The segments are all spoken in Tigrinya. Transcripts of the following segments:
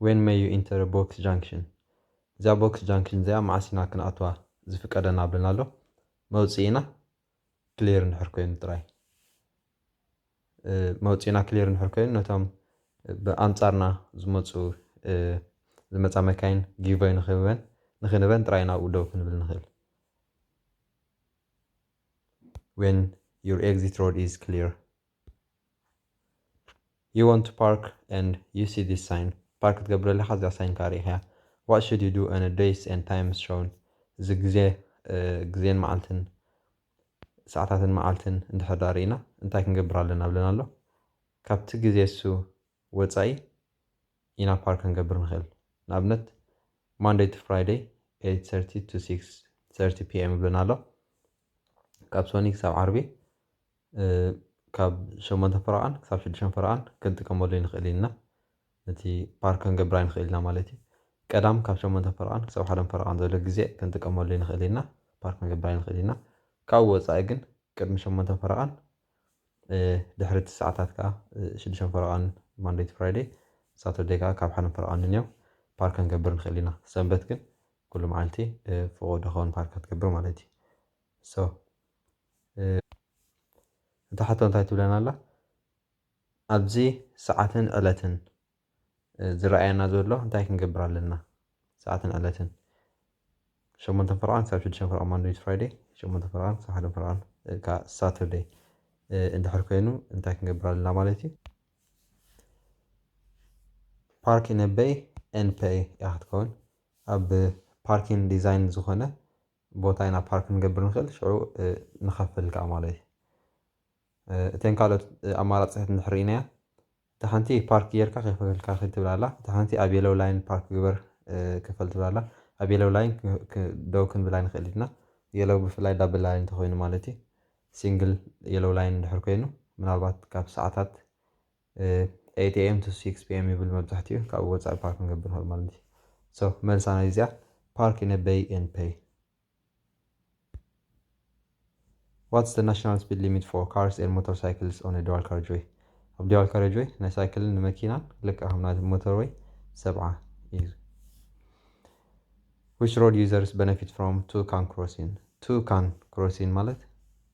ዌን መይ ዩ ኢንተር ቦክስ ጃንክሽን እዚኣ ቦክስ ጃንክሽን እዚኣ መዓስ ኢና ክንኣትዋ ዝፍቀደና ብለና ኣሎ መውፅኢና ክሊር እንድሕር ኮይኑ ጥራይ መውፅኢና ክሊር እንድሕር ኮይኑ ነቶም ብኣንጻርና ዝመፁ ዝመፃ መካይን ጊቮይ ንክህበን ንክንበን ጥራይ ናብኡ ደው ክንብል ንኽእል when your exit road is clear You want to park and you see this sign ፓርክ ክትገብር ኣለካ እዚኣ ሳይን ከዓ ርኢኻያ What should you do and a dates and times shown እዚ ግዜ ግዜን መዓልትን ሰዓታትን መዓልትን እንድሕር ዳኣ ርኢና እንታይ ክንገብር ኣለና ብለና ኣሎ ካብቲ ግዜ እሱ ወፃኢ ኢና ፓርክ ክንገብር ንኽእል ንኣብነት ማንደይ ቱ ፍራይደይ 8:30 to 6:30 pm ብለና ኣሎ ካብ ሶኒ ክሳብ ዓርቢ ካብ ሸሞንተ ፈረቓን ክሳብ ሽዱሸን ፈረቓን ክንጥቀመሉ ንኽእል ኢልና ነቲ ፓር ክንገብር ኣይንኽእል ኢና ማለት እዩ። ቀዳም ካብ ሸሞንተ ፈረቓን ክሳብ ሓደን ፈረቓን ዘሎ ግዜ ክንጥቀመሉ ንኽእል ኢና ፓር ክንገብር ኣይንኽእል ኢና። ካብኡ ወጻኢ ግን ቅድሚ ሸሞንተ ፈረቓን ድሕሪ እቲ ሰዓታት ከኣ ሽዱሸን ፈረቓን ማንደይ ቱ ፍራይደይ ሳተርደይ ከኣ ካብ ሓደን ፈረቓን ንንዮው ፓር ክንገብር ንኽእል ኢና። ሰንበት ግን ኩሉ መዓልቲ ፍቑድ ይኸውን ፓር ክትገብር ማለት እዩ። ሶ። እታ ሕቶ እንታይ ትብለና ኣላ ኣብዚ ሰዓትን ዕለትን ዝረኣየና ዘሎ እንታይ ክንገብር ኣለና ሰዓትን ዕለትን ሸሞንተ ፍርቓን ክሳብ ሽዱሽተ ፍርቓን ማንደይ ቱ ፍራይደይ ሸሞንተ ፍርቓን ክሳብ ሓደ ፍርቓን እካ ሳተርደይ እንድሕር ኮይኑ እንታይ ክንገብር ኣለና ማለት እዩ ፓርኪን በይ ኤንፐይ እያ ክትከውን ኣብ ፓርኪን ዲዛይን ዝኾነ ቦታ ኢና ፓርክ ክንገብር ንኽእል ሽዑ ንኸፍል ከኣ ማለት እዩ። እተን ካልኦት ኣማራጺታት እንድሕር ርኢናያ እታ ሓንቲ ፓርክ ጌርካ ከይከፈልካ ኺድ ትብል ኣላ እታ ሓንቲ ኣብ የለው ላይን ፓርክ ግበር ክፈል ትብል ኣላ ኣብ የለው ላይን ደው ክንብል ኣይንኽእል ኢና የለው ብፍላይ ዳብል ላይን እንተኾይኑ ማለት እዩ ሲንግል የለው ላይን እንድሕር ኮይኑ ምናልባት ካብ ሰዓታት 8AM to 6PM ይብል መብዛሕትኡ ካብኡ ወጻኢ ፓርክ ክንገብር ንኽእል ማለት እዩ። ሶ መልሳ ናይ እዚኣ ፓርክ ኢን አ ቤይ ኤንድ ፔይ። ዋትስ ዘ ናሽናል ስፒድ ሊሚት ፎር ካርስ ኤንድ ሞተር ሳይክልስ ኦን አ ዱዋል ካሬጅዌይ? ኣብ ዱዋል ካሬጅዌይ ናይ ሳይክልን ንመኪናን ልክዕ ከም ናይ ሞተርዌይ ሰብዓ እዩ። ዊች ሮድ ዩዘርስ በነፊት ፍሮም ቱ ካን ክሮሲን? ቱ ካን ክሮሲን ማለት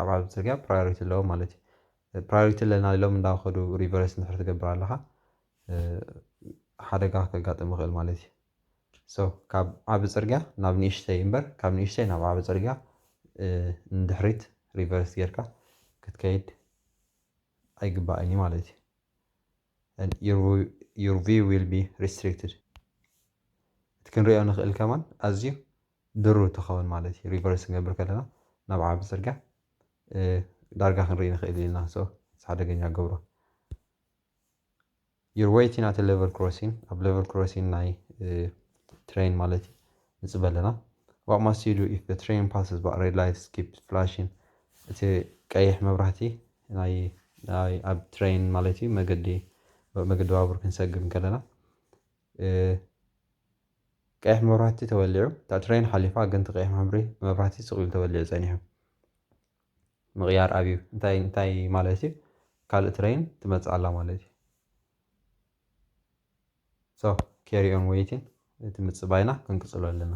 ኣብ ዓለም ጽርግያ ፕራዮሪቲ ኣለዎም ማለት እዩ። ፕራዮሪቲ ኣለና ኢሎም እንዳኸዱ ሪቨርስ እንድሕር ትገብር ኣለኻ ሓደጋ ከጋጥም ይኽእል ማለት እዩ። ሶ ካብ ዓቢ ጽርግያ ናብ ንእሽተይ እምበር ካብ ንእሽተይ ናብ ዓቢ ጽርግያ ንድሕሪት ሪቨርስ ጌርካ ክትከይድ ኣይግባእን እዩ ማለት እዩ። and your view- your view will be restricted እቲ ክንሪኦ ንኽእል ከማን ኣዝዩ ድሩት ትኸውን ማለት እዩ ሪቨርስ ክንገብር ከለና ናብ ዓቢ ጽርግያ ዳርጋ ክንርኢ ንኽእል ኢና ሶ እቲ ሓደገኛ ገብሮ ዩር ወይቲን ኣት ሌቨል ክሮሲን ኣብ ሌቨል ክሮሲን ናይ ትሬን ማለት እዩ ንጽበ ኣለና ዋት ማስት ዩ ዱ ኢፍ ዘ ትሬን ፓስስ ባት ሬድ ላይትስ ኪፕ ፍላሽን እቲ ቀይሕ መብራህቲ ናይ ናይ ኣብ ትሬን ማለት እዩ መገዲ መገዲ ባቡር ክንሰግም ከለና ቀይሕ መብራህቲ ተወሊዑ እታ ትረይን ሓሊፋ ግን እቲ ቀይሕ ማህብሪ መብራህቲ ስቅ ኢሉ ተወሊዑ ጸኒሑ ምቅያር ኣብዩ እንታይ እንታይ ማለት እዩ ካልእ ትረይን ትመጽእ ኣላ ማለት እዩ ሶ ኬሪ ኦን ወይቲን እቲ ምጽባይና ክንቅጽሎ ኣለና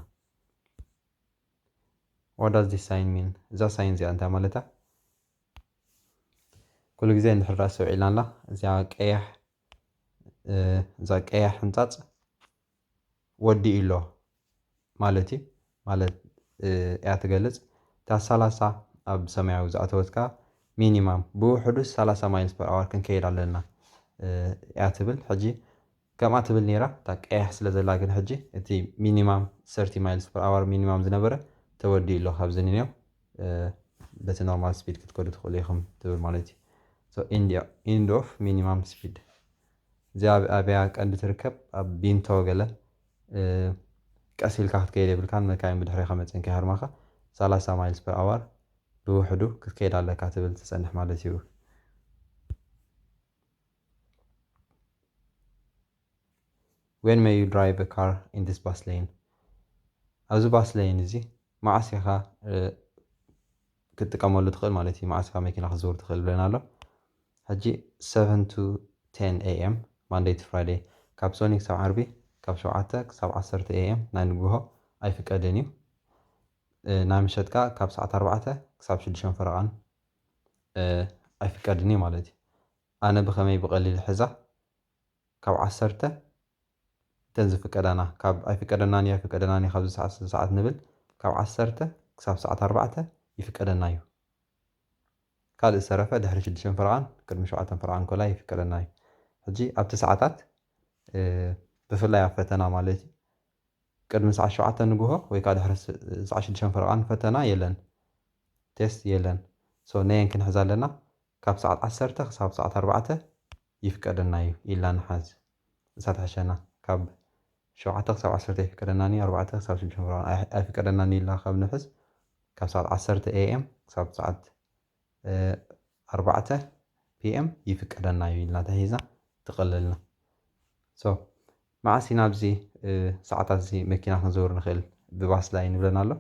ዋት ዳዝ ዚስ ሳይን ሚን እዛ ሳይን እዚኣ እንታይ ማለት እያ ኩሉ ግዜ እንድሕር ዳኣ ኣስተውዒልናላ እዚኣ ቀያሕ እዛ ቀያሕ ሕንጻጽ ወዲኡ'ሎ ማለት እዩ ማለት እያ ትገልጽ። እታ ሰላሳ ኣብ ሰማያዊ ዝኣተወት ከኣ ሚኒማም ብውሕዱ ሰላሳ ማይልስ ፐር ኣወር ክንከይድ ኣለና እያ ትብል። ሕጂ ከምኣ ትብል ነይራ እታ ቀያሕ ስለ ዘላ ግን ሕጂ እቲ ሚኒማም ሰርቲ ማይልስ ፐር ኣወር ሚኒማም ዝነበረ ተወዲኡ'ሎ ካብዚ ንኔው በቲ ኖርማል ስፒድ ክትከዱ ትኽእሉ ኢኹም ትብል ማለት እዩ። ሶ ኢንድ ኦፍ ሚኒማም ስፒድ እዚኣ ኣብ ኣብያ ቀንዲ ትርከብ ኣብ ቢንቶ ገለ ቀስ ኢልካ ክትከይድ የብልካን መካይን ብድሕሬኻ መጺኤን ከይሃርማኻ ሰላሳ ማይልስ ፐር ኣዋር ብውሕዱ ክትከይድ ኣለካ ትብል ትጸንሕ ማለት እዩ። When may you drive a car in this bus lane? ኣብዚ ባስ ለይን እዚ መዓስ ኢኻ ክትጥቀመሉ ትኽእል ማለት እዩ መዓስ ኢኻ መኪና ክትዝውር ትኽእል ብለና ኣሎ ሕጂ ሰቨን ቱ ቴን ኤይ ኤም ማንደይ ቱ ፍራይደይ ካብ ሶኒ ክሳብ ዓርቢ ካብ ሸውዓተ ክሳብ ዓሰርተ ኤይ ኤም ናይ ንግሆ ኣይፍቀድን እዩ ናይ ምሸት ከኣ ካብ ሰዓት ኣርባዕተ ክሳብ ሽዱሽተ ፈረቓን ኣይፍቀድን እዩ ማለት እዩ ኣነ ብኸመይ ብቐሊል ሕዛ ካብ ዓሰርተ እተን ዝፍቀዳና ካብ ኣይፍቀደናን እዩ ኣይፍቀደናን እዩ ካብዚ ሰዓት እስከዚ ሰዓት ንብል ካብ ዓሰርተ ክሳብ ሰዓት ኣርባዕተ ይፍቀደና እዩ ካልእ ዝተረፈ ድሕሪ ሽዱሽተ ፈረቓን ቅድሚ ሸውዓተ ፈረቓን ኮላይ ይፍቀደና እዩ ሕጂ ኣብቲ ሰዓታት ብፍላይ ኣብ ፈተና ማለት እዩ ቅድሚ ሰዓት ሸውዓተ ንግሆ ወይ ከዓ ድሕሪ ሰዓት ሽዱሽተ ፈረቓን ፈተና የለን ቴስት የለን ሶ ነየን ክንሕዛ ኣለና ካብ ሰዓት ዓሰርተ ክሳብ ሰዓት ኣርባዕተ ይፍቀደና እዩ ኢልና ንሓዝ ንሳ ትሕሸና ካብ ሸውዓተ ክሳብ ዓሰርተ ኣይፍቀደናን እዩ ኣርባዕተ ክሳብ ሽዱሽተ ምዕራፍ እውን ኣይፍቀደናን እዩ ኢልና ካብ ንሕዝ ካብ ሰዓት ዓሰርተ AM ክሳብ ሰዓት ኣርባዕተ PM ይፍቀደና እዩ ኢልና ተሒዝና ትቅልልና so መዓስ ኢና ኣብዚ ሰዓታት እዚ መኪና ክንዝውር ንክእል ብባስ ዳኣ ይንብለና ኣሎ።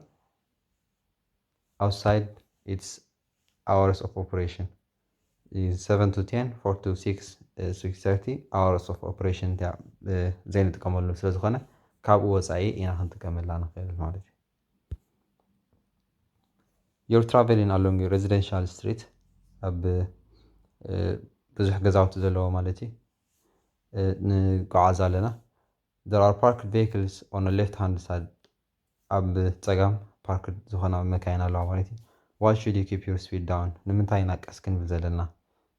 ኣውትሳይድ ኢትስ ኣወርስ ኦፍ ኦፕሬሽን ሰቨን ቱ ቴን ፎር ቱ ሲክስ ሲክስ ሰርቲ ኣወርስ ኦፍ ኦፕሬሽን እንተ ዘይንጥቀመሉ ስለ ዝኾነ ካብኡ ወፃኢ ኢና ክንጥቀመላ ንኽእል ማለት እዩ ዮር ትራቨሊን ኣሎንግ ሬዚደንሻል ስትሪት ኣብ ብዙሕ ገዛውቲ ዘለዎ ማለት እዩ ንጓዓዝ ኣለና there are parked vehicles on the left hand side ኣብ ጸጋም ፓርክድ ዝኾና መካይን ኣለዋ ማለት እዩ። Why should you keep your speed down? ንምንታይ ኢና ቀስ ክንብል ዘለና?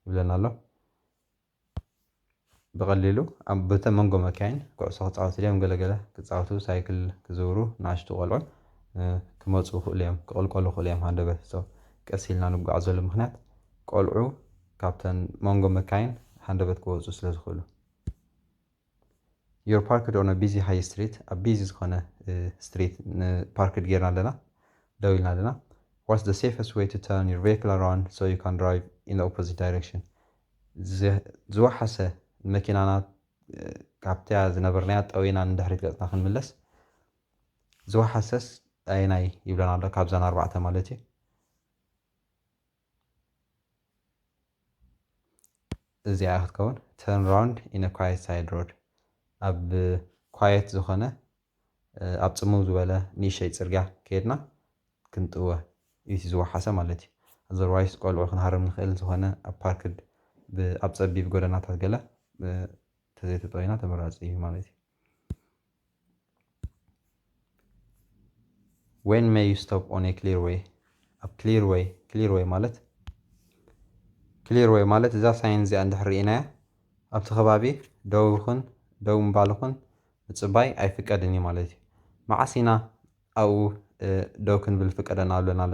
ይብለና ኣሎ። ብቐሊሉ ኣብ በተ መንጎ መካይን ኩዕሶ ክጻወቱ ድዮም ገለ ገለ ክጻወቱ ሳይክል ክዝውሩ ንኣሽቱ ቆልዑ ክመጹ ይኽእሉ እዮም ክቕልቀሉ ይኽእሉ እዮም ሃንደበት so ቀስ ኢልና ንጓዓዘሉ ምኽንያት ቆልዑ ካብተን መንጎ መካይን ሃንደበት ክወጹ ስለ ዝኽእሉ። ዮር ፓርክድ ኦን እ ቢዚ ሃይ ስትሪት ኣብ ቢዚ ዝኾነ ስትሪት ን ፓርክድ ጌርና ኣለና ደው ኢልና ኣለና ዋትስ ዘ ሴፈስት ዌይ ቱ ተርን ዮር ቬክል ኣራውንድ ሶ ዩ ካን ድራይቭ ኢን ዘ ኦፖዚት ዳይረክሽን ዝወሓሰ ንመኪናና ካብታ ዝነበርናያ ጠውይና ንድሕሪት ገጽና ክንምለስ ዝወሓሰስ ኣየናይ ይብለና ኣሎ ካብዛን ኣርባዕተ ማለት እዩ። እዚኣ ክትከውን ተርን ራውንድ ኢን አ ኳየት ሳይድ ሮድ ኣብ ኳየት ዝኾነ ኣብ ጽምው ዝበለ ንእሸይ ጽርግያ ከድና ክንጥወ እዩ ዝወሓሰ ማለት እዩ ኣዘርዋይስ ቆልዑ ክንሃርም ንኽእል ዝኾነ ኣብ ፓርክድ ኣብ ጸቢብ ጎደናታት ገለ ተዘይተጠዊና ተመራጺ እዩ ማለት እዩ ዌን መይ ዩ ስቶፕ ኦን ኤ ክሊር ዌይ ኣብ ክሊር ዌይ ክሊር ዌይ ማለት ክሊር ዌይ ማለት እዛ ሳይን እዚኣ እንድሕር ርኢናያ ኣብቲ ከባቢ ደው ይኹን ደው ምባል ይኹን ምፅባይ ኣይፍቀድን እዩ ማለት እዩ መዓስ ኢና ኣብኡ ደው ክንብል ፍቀደና ኣለና ኣሎ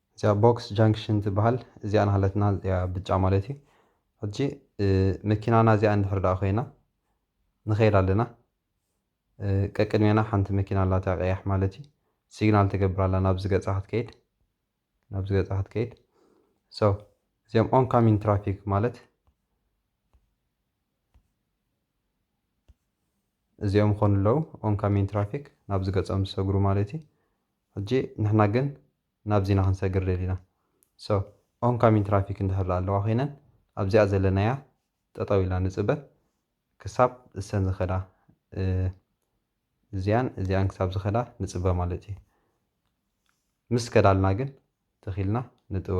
እዚኣ ቦክስ ጃንክሽን ትበሃል እዚኣ ናሃለትና እዚኣ ብጫ ማለት እዩ ሕጂ መኪናና እዚኣ እንድሕር ደኣ ኮይና ንኸይድ ኣለና ቀቅድሜና ሓንቲ መኪና ኣላታ ቀያሕ ማለት እዩ ሲግናል ትገብር ኣላ ናብዚ ገጻ ክትከይድ ናብዚ ገጻ ክትከይድ ሶ እዚኦም ኦን ካሚን ትራፊክ ማለት እዚኦም ኾኑ ኣለዉ ኦን ካሚን ትራፊክ ናብዚ ገጾም ዝሰግሩ ማለት እዩ ሕጂ ንሕና ግን ናብዚ ኢና ክንሰግር ደሊና so on coming traffic እንድሕር ድኣ ኣለዋ ኮይነን ኣብዚኣ ዘለናያ ጠጠው ኢልና ንጽበ ክሳብ እሰን ዝከዳ እዚኣን እዚኣን ክሳብ ዝከዳ ንጽበ ማለት እዩ ምስ ከዳልና ግን ትክ ኢልና ንጥወ።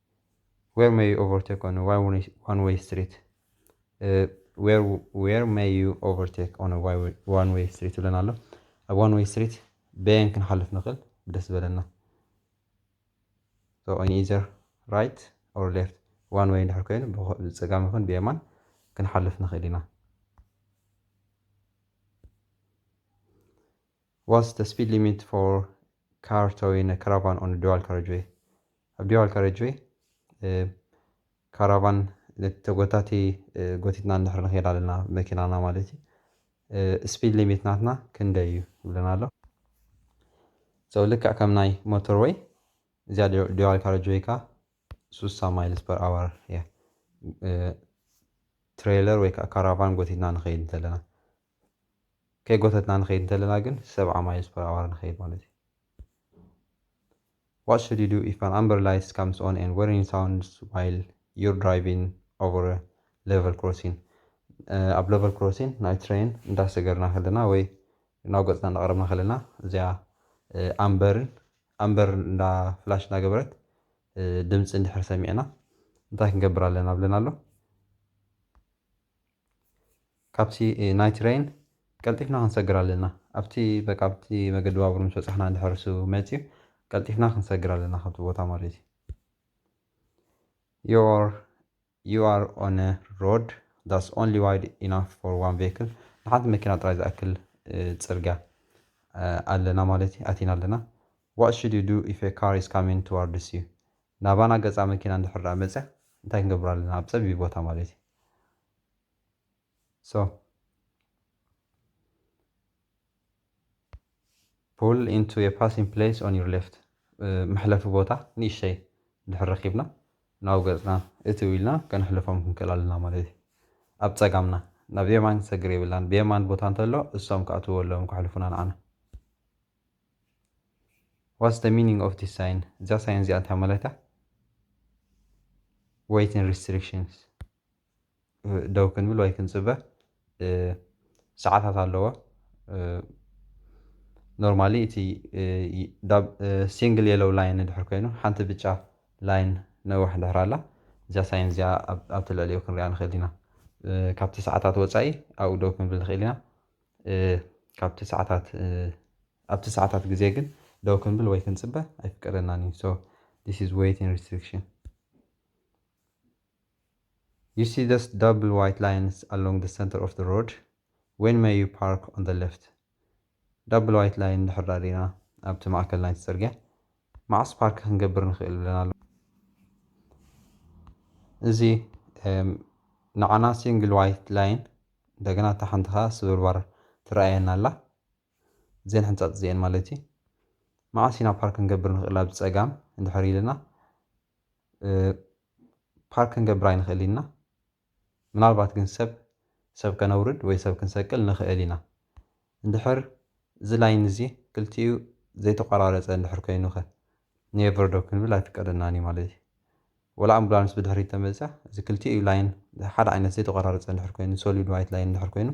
ዌር ሜይ ዩ ኦቨርቴክ ኦን ዋን ዌይ ስትሪት ዌር ሜይ ዩ ኦቨርቴክ ኦን ዋን ዌይ ስትሪት ይብለና ኣሎ ኣብ ዋን ዌይ ስትሪት በየን ክንሓልፍ ንኽእል ብደስ ዝበለና so on either right or left ዋን ወይ እንድሕር ኮይኑ ብፀጋም ይኹን ብየማን ክንሓልፍ ንኽእል ኢና ዋትስ ዘ ስፒድ ሊሚት ፎር ካር ቶዊን እ ካራቫን ኦን ዲዋል ካረጅወይ ኣብ ዲዋል ካረጅወይ ካራቫን ነቲ ተጎታቲ ጎቲትና እንድሕር ንኸይድ ኣለና መኪናና ማለት እዩ ስፒድ ሊሚት ናትና ክንደይ እዩ ይብለና ኣሎ ሰው ልክዕ ከም ናይ ሞተር ወይ እዚኣ ዲዋል ካረጅ ወይ ከዓ ሱሳ ማይልስ ፐር ኣዋር እያ ትሬለር ወይ ከዓ ካራቫን ጎቲትና ንኸይድ እንተለና ከይጎተትና ንኸይድ እንተለና ግን ሰብዓ ማይልስ ፐር ኣወር ንኸይድ ማለት እዩ። What should you do if an amber light comes on and whirring sounds while you're driving over a level crossing? ኣብ ለቨል ክሮሲን ናይ ትሬን እንዳሰገርና ከለና ወይ ናብ ገፅና እንዳቐረብና ከለና እዚኣ ኣምበርን ኣምበር እንዳ ፍላሽ እንዳገበረት ድምፂ እንድሕር ሰሚዕና እንታይ ክንገብር ኣለና ብለና ኣሎ ካብቲ ናይ ትረይን ቀልጢፍና ክንሰግር ኣለና ኣብቲ በቃ ኣብቲ መገዲ ባቡር ምስ በጻሕና እንድሕር እሱ መጽዩ ቀልጢፍና ክንሰግር ኣለና ካብቲ ቦታ ማለት እዩ you are you are on a road that's only wide enough for one vehicle ንሓንቲ መኪና ጥራይ ዝኣክል ጽርግያ ኣለና ማለት እዩ ኣቲና ኣለና what should you do if a car is coming towards you ናባና ገጻ መኪና እንድሕር ደኣ መጽያ እንታይ ክንገብር ኣለና ኣብ ጸቢብ ቦታ ማለት እዩ ሶ ፑል ኢንቱ ኤ ፓሲንግ ፕሌስ ኦን ዩር ሌፍት መሕለፊ ቦታ ንእሽተይ ድሕር ረኪብና ናብ ገፅና እቲ ኢልና ከነሕልፎም ክንክእል ኣለና ማለት እዩ ኣብ ፀጋምና ናብ የማን ሰግር የብላን ብየማን ቦታ እንተሎ እሶም ክኣትዎ ኣለዎም ከሕልፉና ንዓና ዋትስ ደ ሚኒንግ ኦፍ ዲስ ሳይን እዚኣ ሳይን እዚኣ እንታይ ማለት እያ ዌይትን ሪስትሪክሽንስ ደው ክንብል ወይ ክንጽበ ሰዓታት ኣለዎ። ኖርማሊ እቲ ሲንግል የሎው ላይን እንድሕር ኮይኑ ሓንቲ ብጫ ላይን ነዋሕ እንድሕር ኣላ እዚኣ ሳይን እዚኣ ኣብ ትልዕሊኡ ክንሪኣ ንኽእል ኢና። ካብቲ ሰዓታት ወጻኢ ኣብኡ ደው ክንብል ንኽእል ኢና። ካብቲ ሰዓታት ኣብቲ ሰዓታት ግዜ ግን ደው ክንብል ወይ ክንጽበ ኣይፍቀደናን እዩ። ሶ ዚስ ኢዝ ዌይቲንግ ሪስትሪክሽን። ዩ ሲ ዞስ ዳብል ዋይት ላይንስ ኣሎንግ ዘ ሰንተር ኦፍ ዘ ሮድ ዌን መይ ዩ ፓርክ ኦን ዘ ለፍት ዳብል ዋይት ላይን እንድሕር ደኣ ሪኢና ኣብቲ ማእከል ናይቲ ጽርግያ መዓስ ፓርክ ክንገብር ንኽእል ብለና ኣሎ እዚ ንዓና ሲንግል ዋይት ላይን እንደገና እታ ሓንቲ ከኣ ስብርባር ትረኣየና ኣላ እዚኤን ሕንጻጽ እዚኤን ማለት እዩ መዓስ ኢና ፓርክ ክንገብር ንኽእል ኣብ ጸጋም እንድሕር ኢልና ፓርክ ክንገብር ኣይንኽእል ኢና ምናልባት ግን ሰብ ሰብ ከነውርድ ወይ ሰብ ክንሰቅል ንኽእል ኢና እንድሕር እዚ ላይን እዚ ክልቲኡ ዘይተቆራረፀ እንድሕር ኮይኑ ከ ኔቨር ዶ ክንብል ኣይፍቀደናን እዩ ማለት እዩ ወላ ኣምቡላንስ ብድሕሪት ተመፅያ እዚ ክልቲኡ ላይን ሓደ ዓይነት ዘይተቆራረፀ እንድሕር ኮይኑ ሶሊድ ዋይት ላይን እንድሕር ኮይኑ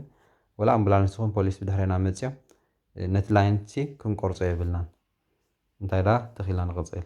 ወላ ኣምቡላንስ ይኹን ፖሊስ ብድሕሬና መፅዮም ነቲ ላይን እቲ ክንቆርፆ የብልናን እንታይ ደኣ ተኺልና ንቕፅል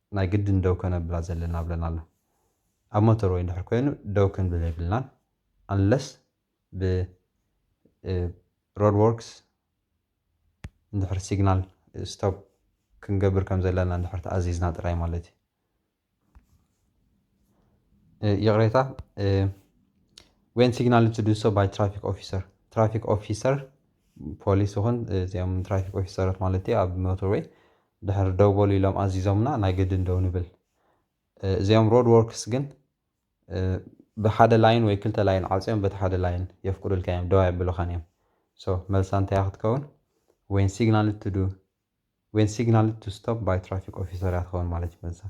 ናይ ግድን ደው ከነብላ ዘለና ብለን ኣሎ ኣብ ሞተር ወይ እንድሕር ኮይኑ ደው ክንብል የብልናን unless ብ roadworks እንድሕር signal stop ክንገብር ከም ዘለና እንድሕር ተኣዚዝና ጥራይ ማለት እዩ። ይቕሬታ ዌን ሲግናል ቱ ዱሶ ባይ ትራፊክ ኦፊሰር ትራፊክ ኦፊሰር ፖሊስ ይኹን እዚኦም ትራፊክ ኦፊሰራት ማለት ኣብ ሞተርዌይ ድሕሪ ደው በሉ ኢሎም ኣዚዞምና ናይ ግድን ደው ንብል። እዚኦም ሮድ ዎርክስ ግን ብሓደ ላይን ወይ ክልተ ላይን ዓጽዮም በቲ ሓደ ላይን የፍቅዱልካ እዮም ደው ኣየብሉኻን እዮም so መልሳ እንታይ እያ ክትከውን when signaled to do when signaled to stop by traffic officer እያ ትኸውን ማለት እዩ መልሳ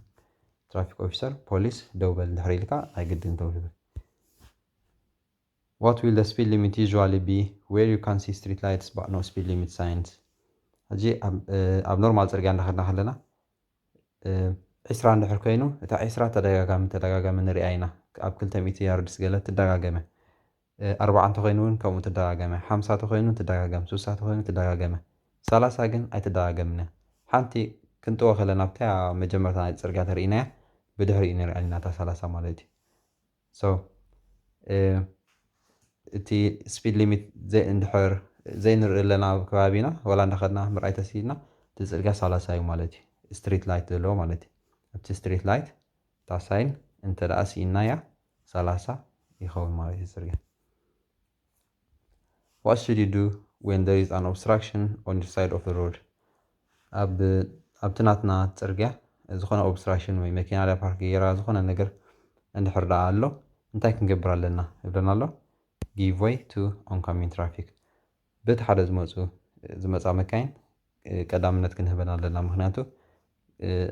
ትራፊክ ኦፊሰር ፖሊስ ደው በል ድሕሪ ኢልካ ናይ ግድን ደው ንብል What will the speed limit usually be where you can see street lights but no speed limit signs? ሕጂ ኣብ ኖርማል ጽርግያ እንዳኸድና ከለና ዒስራ እንድሕር ኮይኑ እታ ዒስራ ተደጋጋሚ ተደጋጋሚ ንሪኣ ኢና ኣብ ክልተ ሚእቲ ያርድስ ገለ ትደጋገመ ኣርባዓ እንተኾይኑ እውን ከምኡ ትደጋገመ ሓምሳ ተኾይኑ ትደጋገም ሱሳ ተኾይኑ ትደጋገመ ሰላሳ ግን ኣይትደጋገምን እያ ሓንቲ ክንጥወ ከለና ኣብታ መጀመርታ ናይ ጽርግያ ተርእይናያ ብድሕሪኡ ንሪኣ ኢና እታ ሰላሳ ማለት እዩ So እቲ speed limit እንድሕር ዘይንርኢ ኣለና ኣብ ከባቢና ዋላ እንዳኸድና ምርኣይ ተስኢንና እቲ ጽርግያ ሰላሳ እዩ ማለት እዩ ስትሪት ላይት ዘለዎ ማለት እዩ ኣብቲ ስትሪት ላይት እታ ሳይን እንተደኣ ስኢንናያ ሰላሳ ይኸውን ማለት እዩ ጽርግያ What should you do when there is an obstruction on your side of the road? ኣብ ኣብቲ ናትና ጽርግያ ዝኾነ ኦብስትራክሽን ወይ መኪና ድያ ፓርክ ገይራ ዝኾነ ነገር እንድሕር ደኣ ኣሎ እንታይ ክንገብር ኣለና ይብለና ኣሎ give way to oncoming traffic በቲ ሓደ ዝመፁ ዝመፃ መካይን ቀዳምነት ክንህበን ኣለና ምክንያቱ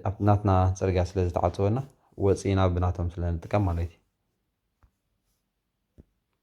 ኣብ ናትና ፅርግያ ስለ ዝተዓፀወና ወፂኢና ብናቶም ስለ ንጥቀም ማለት እዩ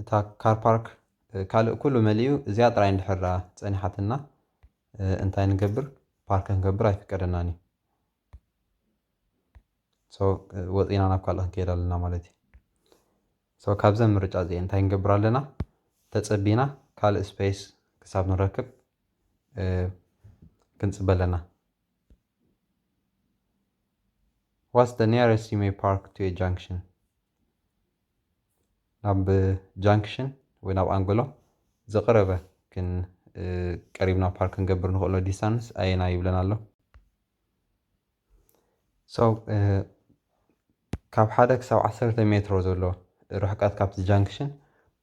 እታ ካር ፓርክ ካልእ ኩሉ መሊኡ እዚኣ ጥራይ እንድሕር ደኣ ጸኒሓትና እንታይ ንገብር ፓርክ ክንገብር ኣይፍቀደናን እዩ ሶ ወጺና ናብ ካልእ ክንከይድ ኣለና ማለት እዩ ሶ ካብዘን ምርጫ እዚኤን እንታይ ንገብር ኣለና ተጸቢና ካልእ ስፔስ ክሳብ ንረክብ ክንጽበ ኣለና ዋትስ ደ ኒረስት ዩ ሜይ ፓርክ ቱ ኤ ጃንክሽን ናብ ጃንክሽን ወይ ናብ ኣንጎሎ ዝቐረበ ክን ቀሪብና ፓርክ ክንገብር ንኽእሎ ዲስታንስ ኣየና ይብለና ኣሎ ሰው ካብ ሓደ ክሳብ ዓሰርተ ሜትሮ ዘሎ ርሕቀት ካብቲ ጃንክሽን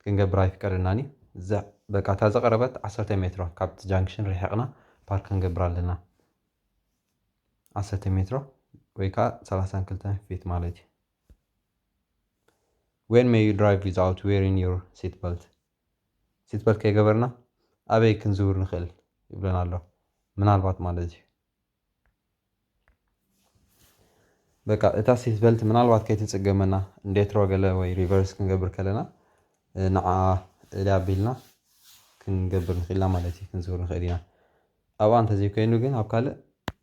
ክንገብር ኣይፍቀደናን እዩ እዛ በቃ እታ ዝቐረበት ዓሰርተ ሜትሮ ካብቲ ጃንክሽን ርሒቕና ፓርክ ክንገብር ኣለና ዓሰርተ ሜትሮ ወይ ከዓ ሰላሳን ክልተን ፊት ማለት እዩ ዌን መይ ዩ ድራይቭ ዊዛውት ዌሪን ዩር ሲት በልት? ሲት በልት ከይገበርና ኣበይ ክንዝውር ንኽእል? ይብለና ኣሎ ምናልባት ማለት እዩ። በቃ እታ ሲት በልት ምናልባት ከይትጽገመና ዴትሮ ገለ ወይ ሪቨርስ ክንገብር ከለና ንዓ እልያ ኣቢልና ክንገብር ንኽእልና ማለት እዩ ክንዝውር ንኽእል ኢና። ኣብኣ እንተዘይኮይኑ ግን ኣብ ካልእ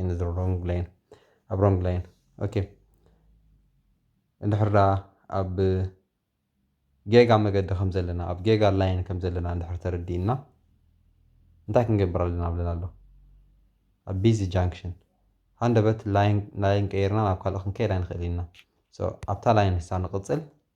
in the wrong lane ኣብ wrong lane ኦኬ እንድሕር ደኣ ኣብ ጌጋ መገዲ ከም ዘለና ኣብ ጌጋ ላይን ከም ዘለና እንድሕር ተረዲእና እንታይ ክንገብር ኣለና ብለና ኣሎ ኣብ ቢዚ ጃንክሽን ሃንደበት ላይን ቀይርና ናብ ካልእ ክንከይድ ኣይንኽእል ኢና ኣብታ ላይን ንሳ ንቕፅል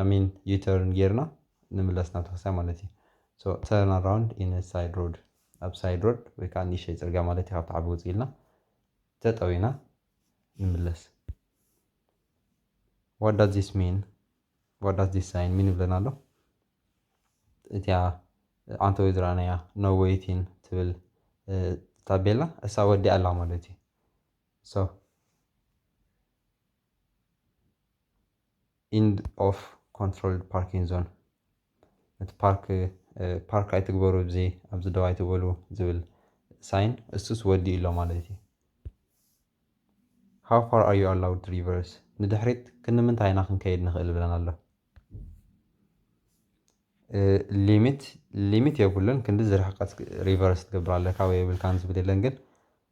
ኣሜን ዩተርን ጌርና ንምለስ ናብቲ ክርስትያን ማለት እዩ ሶ ተርን ኣራውንድ ኢን ሳይድ ሮድ ኣብ ሳይድ ሮድ ወይ ከዓ ንእሽተይ ፅርግያ ማለት እዩ ካብቲ ዓቢ ውፅእ ኢልና ጠጠው ኢና ንምለስ ዋት ዳዝ ዚስ ሚን ዋት ዳዝ ዚስ ሳይን ሚን ይብለና ኣሎ እቲያ ዓንተወይ ዝረኣናያ ኖ ዌይቲን ትብል ታቤላ እሳ ወዲኣ ኣላ ማለት እዩ ሶ ኢንድ ኦፍ ኮንትሮልድ ፓርኪን ዞን እቲ ፓርክ ፓርክ ኣይትግበሩ እዚ ኣብዚ ደው ኣይትበሉ ዝብል ሳይን እሱስ ወዲኡ ኣሎ ማለት እዩ ሃው ፋር ኣር ዩ ኣላውድ ሪቨርስ ንድሕሪት ክንምንታይ ኢና ክንከይድ ንኽእል ብለን ኣሎ ሊሚት ሊሚት የብሉን ክንዲ ዝርሕቀት ሪቨርስ ትገብር ኣለካ ወይ የብልካን ዝብል የለን ግን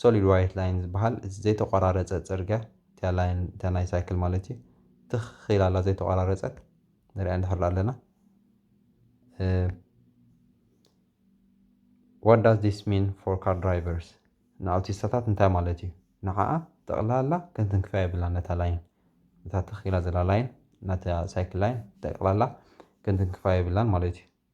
ሶሊድ ዋይት ላይን ዝበሃል እቲ ዘይተቆራረፀ ፅርግያ እቲኣ ላይን እታ ናይ ሳይክል ማለት እዩ ትኽ ኢላ ኣላ ዘይተቆራረፀት ንሪኣ እንድሕር ኣለና ዋት ዳዝ ዲስ ሚን ፎር ካር ድራይቨርስ ንኣውቲስታታት እንታይ ማለት እዩ ንዓኣ ጠቕላላ ከንትንክፋ የብላ ነታ ላይን እታ ትኽ ኢላ ዘላ ላይን ናታ ሳይክል ላይን ጠቕላላ ከንትንክፋ የብላን ማለት እዩ